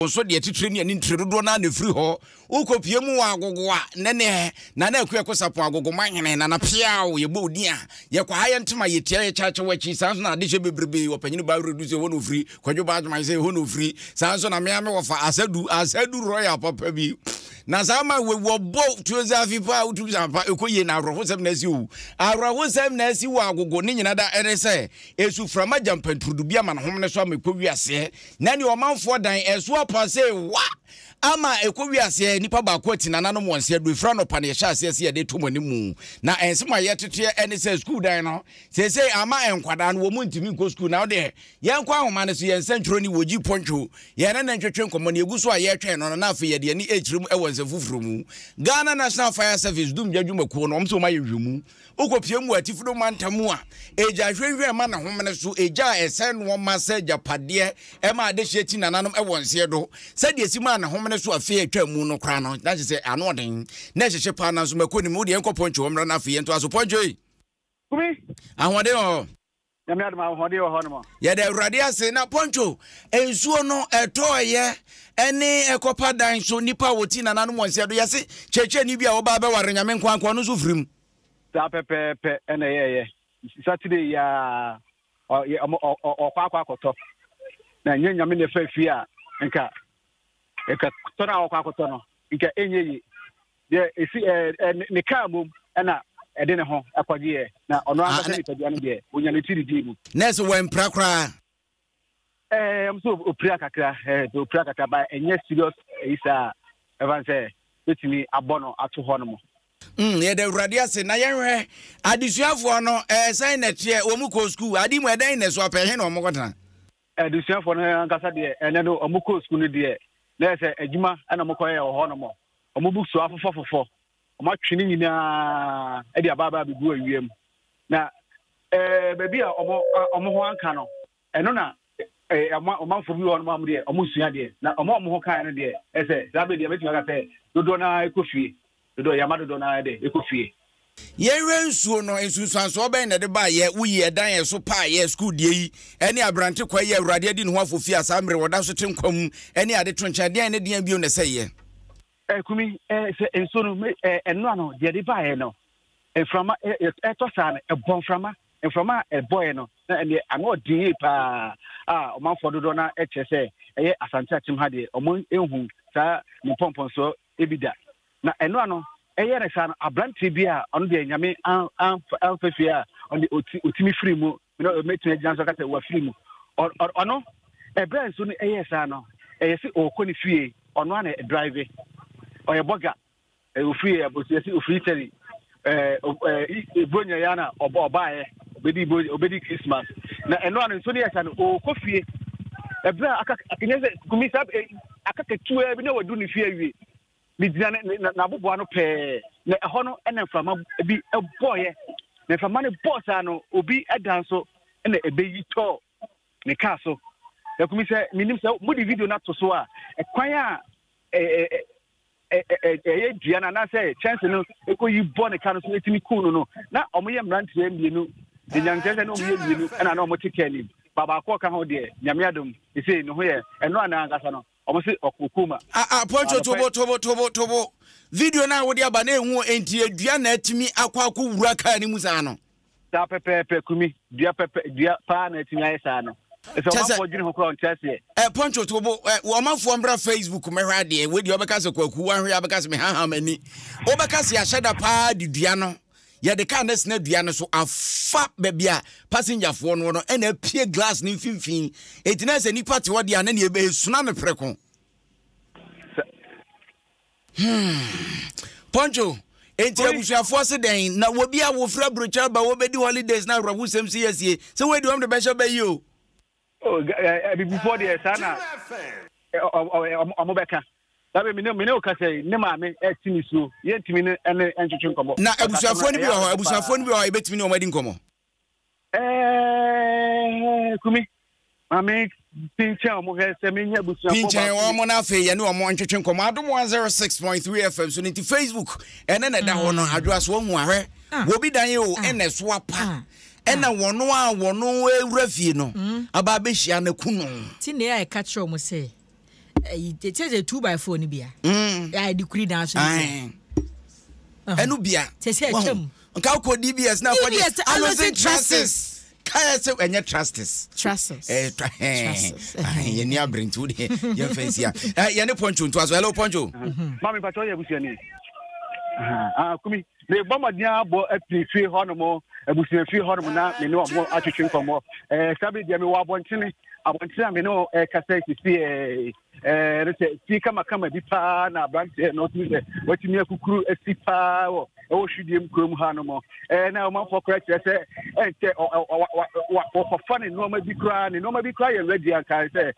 Wo nso deɛ titire ne ani ntire dodoɔ no ara na ɛfiri hɔ. Wokɔpue mu wɔ agogo a, nnɛnnɛ, Nana Akuaku Sapon Agogoma hene, Nana Peaw, yɛbɔ wo din a, yɛkwaha yɛn ntoma, yɛtia, yɛkyakye w'akyi. Saa nso na adehyɛ bebrebe, Ɔpanyini Baa Redu sɛ ɛhɔ na ɔfiri, Kwadwo Baa Adwoman sɛ ɛhɔ na ɔfiri, saa nso na me ara me wɔfa, Asadu, Asadu Royal papa bi, na saa ma wɔ wɔbɔ tuoza afi pa a wotumi saa pa, ɛkɔ yie na awerɛhosɛm na asi o, awerɛhosɛm na asi wɔ agogo, ne nyina da ɛne sɛ, ɛsuframa gya mpanturudu bi amanehom no so ama ɛkɔ wiaseɛ. na nea ɔmanfoɔ dan ɛso apɔasee wa ama ɛkɔ wi aseɛ nipa baako ati nananom wɔn sɛ adurefiri anɔpa na yɛhyɛ aseɛ sɛ yɛde to mo anim mu na ɛnse ma yɛteteɛ ɛne sɛ sukuu dan no seesei ama nkwadaa no wɔn mu ntumi nkɔ sukuu na ɔdeɛ yɛnkɔ ahoma no so yɛn nsɛntwerɛ ni wɔgyi pɔntwo yɛn ne ne ntwetwe nkɔmmɔ ne ɛgu so a yɛretwɛn no no na afei yɛde ani ɛkyerɛ mu ɛwɔ nsɛm foforɔ mu Ghana National Fire Service dumgya dwumakuo no wɔn sɛ wɔn ayɛ nhwɛmu Wokɔ pie mu wɔ Atifdo mantam mu a, egya hwɛnhwɛn ma ne homene so, egya a ɛsɛe nnoɔma sɛ agyapadeɛ ɛma adehyeɛ ti nananom wɔ nseɛ do. Sɛdeɛ ɛsi maa ne homene so afe a ɛtwaa mu no koraa no, na kyerɛ sɛ ano ɔden, na ɛhyehye paa, nanso mako nnim. Wo deɛ yɛnkɔ Poncho hɔ mmra na afei yɛntoa so. Poncho ei! Ahoɔden wɔ hɔ. Nyame adom ahoɔden wɔ hɔnom. Yɛda Awurade ase na pɔnkyo nsuo no ɛtɔɔyɛ ɛne ɛkɔpa dan so nipa a wɔti nananom wɔn sɛ do yɛse kyerɛkyerɛni bi a ɔbaa bɛware nyame nkoankoa ɔno nso firim. Saa pɛpɛɛpɛ ɛna ɛyɛɛyɛ Saturday yi ara ɔkɔ akɔ akɔtɔ na ɛnyɛ nyame na ɛfa fie a nka ɛka tɔ no a ɔkɔ akɔtɔ no nka ɛnyɛ yie. deɛ ɛsi ɛɛ ne ne kaa mom ɛna ɛde ne ho ɛkɔgyeɛ na ɔno ah, ankasa nipadua no deɛ onya ne tiri dii mu. nɛɛse wɔmpira koraa. ɛɛ eh, nso opira kakra ɛɛ eh, opira kakra ba ɛnyɛ serious ɛyi eh, saa ɛfan sɛ betumi abɔ no ato hɔ no mu. Mm, yɛda awurade ase na yɛnhwɛ adesuafoɔ no ɛɛ sɛn na ɛteɛ wɔn kɔ sukuu ade mu ɛdɛn na ɛso apɛ he na wɔn kɔtena. Adesuafoɔ no ankasa deɛ ɛnɛ no wɔn kɔɔ sukuu no deɛ na yɛ sɛ adwuma ɛna wɔn kɔyɛ wɔ hɔ nom. Wɔn books afofɔ fofɔ. Wɔn atwe ne nyinaa ɛde abaabaa bɛgu awia mu. Na ɛɛ baabi a wɔn wɔn ho anka no ɛno na ɛɛ ama ɔmanfoɔ bi wɔ hɔ nom a wɔn deɛ wɔn nsua deɛ. Na wɔn a wɔn ho kaeɛ no deɛ ɛsɛ saa bɛ deɛ bɛtumi aka sɛ dodoɔ naa ɛkɔ fie. Dodo yɛ ama dodo no ara dɛ ekɔ fie. Yɛn Werɛ Nsuo no, nsunsuansoɔ bɛn na ɛde baa yɛ, wo yi, ɛdan a ɛso paa yɛ, sukuu deɛ yi, ɛne aberante kwae yi a Awurade adi ne ho afofie a saa mmerɛ yi ɔda so te nkwa mu, ɛne ade to nkyɛn, deɛn ne deɛn bio na ɛsɛ yɛ? Ɛɛ, Kumi, ɛɛ, sɛ nsuo no, me, ɛɛ, ɛno ano, deɛ ɛde baa yɛ no, mframa, ɛɛ, ɛtɔ saa no, ɛbɔ mframa, mframa a ɛbɔ yɛ no, na ɛneɛ, ano ɔden yie paa, a ɔmanfoɔ dodoɔ no ɛkyerɛ sɛ, ɛyɛ Asante Akyem ha deɛ, ɔmo nhu saa ne mpɔmpɔnsoɔ Dabi da. Na ɛno ano, ɛyɛ no saa no, aberanteɛ bi a ɔno deɛ nyame amfa fie a ɔde ɔtumi firi mu, na ɔmɛtumi agyina nso ka sɛ wafiri mu. Ɔno, ɛberɛ nso no ɛyɛ saa no, ɛyɛ sɛ ɔkɔ ne fie, ɔno a na drive, ɔyɛ bɔga, ɔfiri ɛbɔsi ɛsi ɔfiri Italy, Eh, eh, eh, Bronya ya na ɔba ɔbaeɛ obedi bro obedi Christmas na ɛno ano nso ne yɛsa no ɔkɔ fie ɛberɛ a aka akanyɛ sɛ kumi saa eh, aka ketewa bi na wadu ne fie awie megyina ne ne- na- n'aboboa no pɛɛ na ɛhɔ no ɛna mframa bi ɛbɔɔyɛ na mframa no bɔɔ saa no obi ɛdan so ɛna ɛbɛyi tɔɔ ne kaa so na kumi sɛ menim sɛ mode video no ato so a ɛkwan a eh, eh, eh, ɛyɛ dua no anaasɛ kyɛnse no ɛkɔyi bɔ ne ka no so ɛtumi kuu no no na ɔmoyɛ mmeranteɛ mmienu de nyankyerɛ sɛ ne ɔmoyɛ mmienu ɛna na ɔmote ka anim babaako ɔka ho deɛ nyame adom ɛsei ne ho yɛ ɛno anaa ankasa no ɔmo se ɔkoko ma poncho tobo tobo tobo tobo video no a wode aba na ɛhu enti adua na atumi akɔ akɔ wura kaa no mu saa no saa pɛpɛɛpɛ kumi dua pɛpɛ dua paa na atumi ayɛ saa no ɛsɛ ɔmanfoɔ dwene ho koraa ɔnte aseɛ. ɛ pɔnkye to bo ɛ wɔ ɔmanfoɔ mbra facebook mɛhwɛ adeɛ wei deɛ ɔbɛka sɛ kwaku wahwɛ yɛ abɛka sɛ mehaham ani wobɛka sɛ yɛahyɛ da paa de dua no yɛde kaa no sena dua no so afa baabi a passengerfoɔ no no ɛna apue glass no mfimfini ɛti na sɛ nnipa te hɔ deɛ a na neɛ ɛsuna no prɛko Hmm. Poncho, enti abusuafoɔ se dɛn? Na wɔbi a wɔfira brokyɛ ba wɔbɛdi holidays na awerɛhosɛm si asie sɛ wei de wɔn de bɛhyɛ bɛ yi o. Oh, abibifoɔ deɛ saa na ɔmo bɛka. Dabe mene mene o kasa yi ne maame ɛti ne suo yɛntumi ne ɛne ɛntwetwe nkɔmɔ. Na abusuafoɔ no bi wɔ hɔ abusuafoɔ no bi wɔ hɔ a yɛbɛtumi ne wɔn adi nkɔmɔ. Ɛɛ kumi maame pinkyɛn wɔn hɛ sɛ mi nya busuafo baako. pinkyɛn wɔn na afei yɛne wɔn ntwetwe nkɔmɔ adum one zero six point three fm so ne ti facebook ɛne na ɛda hɔ no mm. adwoa so ohun ahwɛ ah. wɔbi dan yi o ah. ɛna ɛso apa ah. ɛna wɔn a wɔn ewura fie no mm. aba abɛhyia na kunu. ti na ɛka kyerɛ wɔn sɛ. te sɛ two by four no bia mm. yɛde kuri dan so ɛno bia te sɛ ɛkyɛm nka wokɔ dbs na kɔgye anosen trases kaya sɛ ɛnyɛ trustes yɛni aberente wo deɛ yɛmfa nsia yɛne poncho ntoa so hello poncho mame patɔ yɛ abusuani kumi mebɔ mmɔden abɔ apiri fie hɔnom abusua fie hɔnom na me ne wɔn atwetwe nkɔmmɔ eh, saa bere deɛ mewɔ abɔntene abɔntene a me ne eh, kasa sisi eh, eh, no sɛ fie kamakama bi paa na aberanteɛ na ɔtumi sɛ watumi akukuru asi paa wɔ ɛwɔ hwidiem kurom ha no mu eh, na ɔmanfoɔ koraa kyerɛ sɛ ɛnkyɛ wɔkɔfa ne nnoɔma bi koraa ne nnoɔma bi koraa yɛ radi ankae sɛ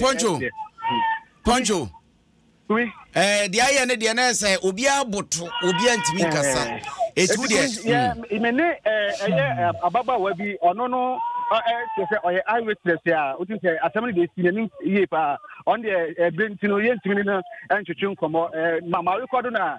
poncho poncho deɛ ayɛ ne deɛ na ɛsɛ obiara boto obiara ntumi nkasa ɛtu eh, deɛ hmm. me ne eh, ɛyɛ eh, ababaawa bi ɔno no kyerɛ sɛ ɔyɛ eye witness a wotim sɛ asɛm no deɛ ɛsi n'anim yie paa ɔno deɛ ɛberɛ nti no yɛntumi ne no ntwetwe nkɔmmɔ mama rekɔdo no a